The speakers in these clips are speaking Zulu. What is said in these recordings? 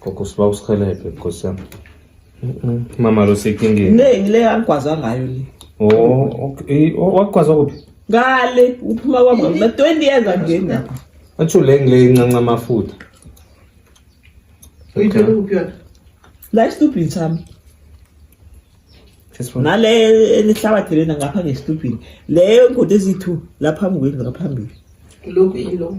Gogo siba usihelebhe nkosi yami. Mm-mm. Mama lo sekingeni. Ne ngile yangigwaza ngayo le. Oh, okay. Oh, wakwazi kuphi? Ngale uphuma kwami na 20 years angeni lapha. Atsho le ngile incanca amafutha. Uyithole kuphi yona? La istupid sami. Just one. Nale elihlabathi lena ngapha ngestupid. Leyo ngode ezithu lapha ngweni ngaphambili. Lokhu yilo.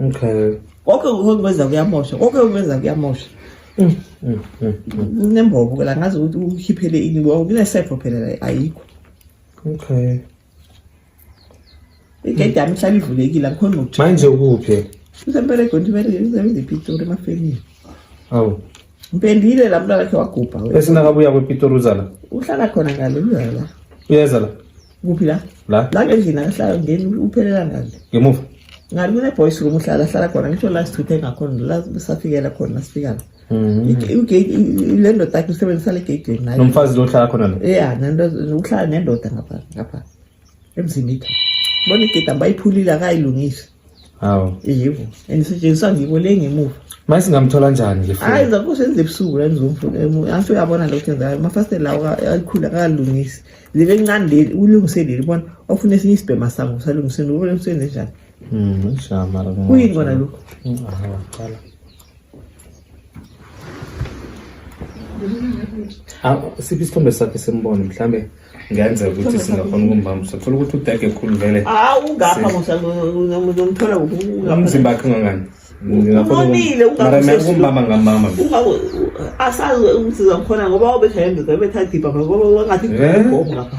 okay konke okwenza kuyamosha konke okwenza kuyamosha mm, mm, mm, kunembobo ke la ngazi ukuthi ukhiphele ini kunesefo phela la ayikho okay igedi yami ihlala ivulekile angikhoni ngokujima manje ukuphi usemperegweni usebenza ipitori emafemini awu ngipendile la mntwana khe wagubha esingakabuya kwepitori uzala uhlala khona ngale uyala uyeza la kuphi la la la ngendlini akahlala ngeni uphelela ngale ngemuva ngani kuneboys room uhlala hlala khona ngisho la sithuthe ngakhona la safikela khona sifikala le ndoda yakhe usebenzisa le geyideni naye nomfazi lo hlala khona lo ya uhlala nendoda ngapha ngapha emzini itha bona igedi ambayiphulile akayilungisi Hawu. Yebo. And sisetshenziswa ngibo le ngemuva. Manje singamthola njani ke futhi? Hayi zakho senze ebusuku la ngizomfuna emuva. Angisho uyabona lo ukuthi ngayo. Mafasitela lawa ayikhula akalungisi. Libe ncane leli ulungise leli bona ofuna esinye isibhema sango salungiseni ubona umsebenzi njani. Mhm. Shama la. Kuyini kona lokho? Hawu. Ah, siphi isithombe sakhe simbone mhlambe ngenzeka ukuthi singakhona ukumbambisa thola ukuthi udege khulu vele hawu ungapha ngomthola umzimba akhe ungangani umonile ungabambanga ngamama asazi umsiza ngikhona ngoba wabetha yembeza ebetha dibha ngoba wangathi ngapha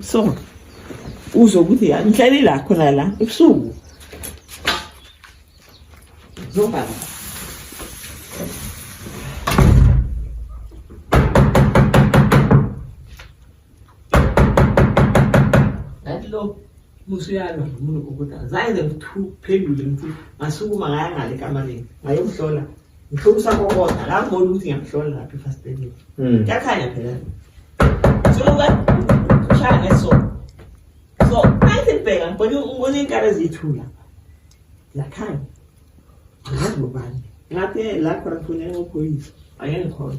so uzwe ukuthi ya ngihleli la khona la ebusuku zobaba lo musuyalwa nomuntu okuda zange ngiphendule ngithi ngasukuma ngaya ngale kamalini ngayomhlola Ngithola usakokoda la ngibona ukuthi ngiyamhlola lapha efasteleni. Mm. Kuyakhanya phela. Suluka ushaya ngeso. So, manje bheka ngibona ngibona inkara ezithula. Lakhanya. Ngazobani. Ngathi lapho ngifuna ngokhoyisa. Ayengikhona.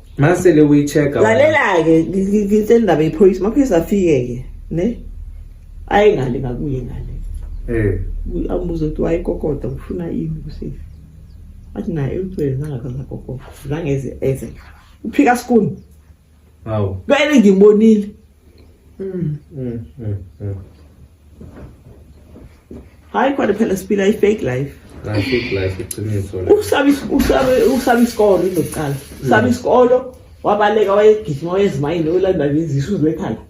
masele uyichecka lalela-ke ngitshela indaba yephoyisa amaphoyisa afike-ke ne ayi ngale ngakuye ngale eh. ambuze ukuthi wayekokota ngifuna ini kusefi athi naye uthwele zangakazakokota zangeze eze uphika skuni awu kwele ngimbonile Mm. Mm, mm, mm. hayi kodwa phela siphila i-fake life Hayi, fake life iqiniso le. usaba is- usaba- usaba isikolo into yokuqala usaba isikolo wabaleka wayegijima wayezimayini oyolanda ngezisu uzwekhanda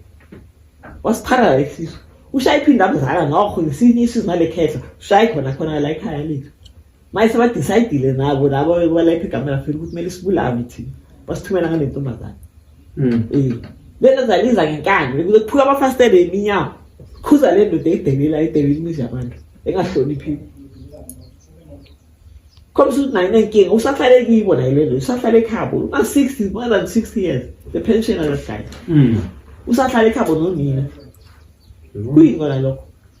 wasipharala isisu ushaya iphinde abuzala nokho ngesinye isisu ngale khehla ushaye khona khona la ekhaya lethu manje sebadicayidile nabo labo bebalapha igama lafela ukuthi kumele sibulawe thina basithumela ngale ntombazane um lento zaliza ngenkani bekuze kuphuka amafasitele eminyango khuza le ndoda eyidelela edelela imizi yabantu engahloniphile khombisa ukuthi nayo inenkinga usahlale kibo nayo le nto usahlale ekhabo una-sixty more than sixty years the pension aloshlala usahlale ekhabo nonina kuyini kona lokho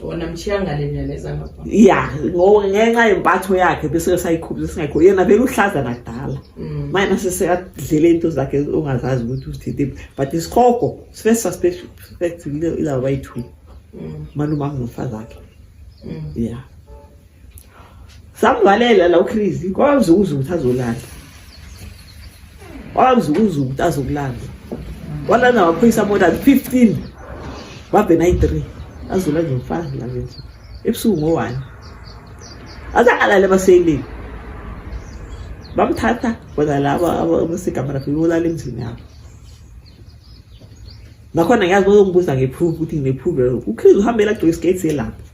wona mchiya ngale myalezo angazibona ya ngo- ngenxa yempatho yakhe bese sayikhuphi singayikho yena vele uhlaza nakudala Mm. manje nasesekadlela into zakhe ongazazi ukuthi uzithintiphi but isikhogo sife suspect ilaba bayi-two Mm, malumazi nomfazi akhe mm. ya samvalela la uChris kwazi ukuzwa ukuthi azolala wazi ukuzwa ukuthi azokulala walana waphoyisa more than 15 wabe nayi 3 azula nje mfana la nje ebusuku ngowani azakalale baseyilini bamthatha bona laba abasegamara bebulala emzini yabo nakhona ngiyazi bazongibuza nge-proof ukuthi ngine-proof ukhristu uhambela agcwele isiketi selapho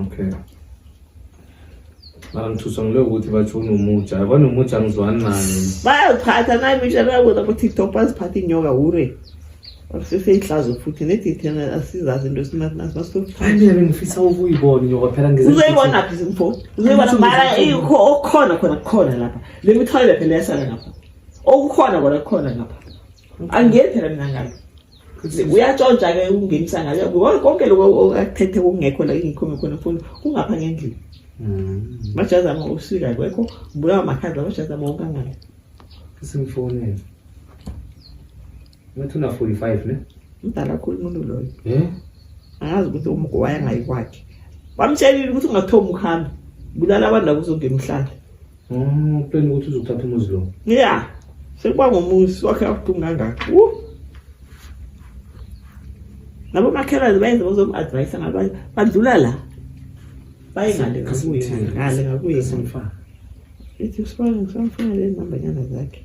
okay mara ngithuswa ngile ukuthi batsho unomutsha kwanomutsha ngizwani naye bayaziphatha naye misha bakuza kutiktok baziphatha inyoka hure seseyinhlazo futhi nedithena asizazi into esinasinasinasithokuthaabe ngifisa ukuyibona inyoka phela uzoyibona phi mfo uzoyibona mara ikho okukhona khona kukhona lapha le mithwalele phela yasala ngapha okukhona kona kukhona ngapha angiyethela mina ngalo uyatshontsha ke ukungenisa ngayo ngoba konke lokho okathethe kungekho la ingikhome khona mfundo kungapha ngendlini mm. majazi ama usika kwekho ngibulawa makhaza majazi ama wonke angale simfonele ngathi una 45 ne mdala kakhulu umuntu loyo eh angazi ukuthi umgowaya ngayikwakhe bamtshelile ukuthi ungathomi ukuhamba bulala abantu la kuzongena umhlala Oh, plan ukuthi uzothatha umuzi lo. Yeah. Sekuba ngomuzi wakhe abuhlungu kangaka. Uh. Nabo makhelwane bayenza bazomu-advise ngabanye badlula la. Baye ngale ngakuye ngale ngakuye. Ithi usifana ngisamfuna le nambanyana zakhe.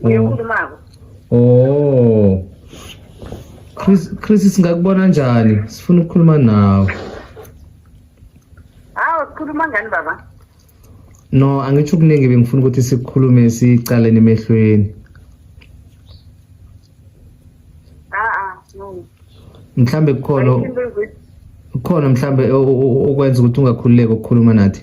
uyokhulumako oh Chris Chris singakubona njani sifuna ukukhuluma nawe hawo sikhuluma ngani baba no angitsho kuningi bengifuna ukuthi sikhulume sicaleni emehlweni mhlambe kukhona kukhona mhlambe okwenza ukuthi ungakhululeki ukukhuluma nathi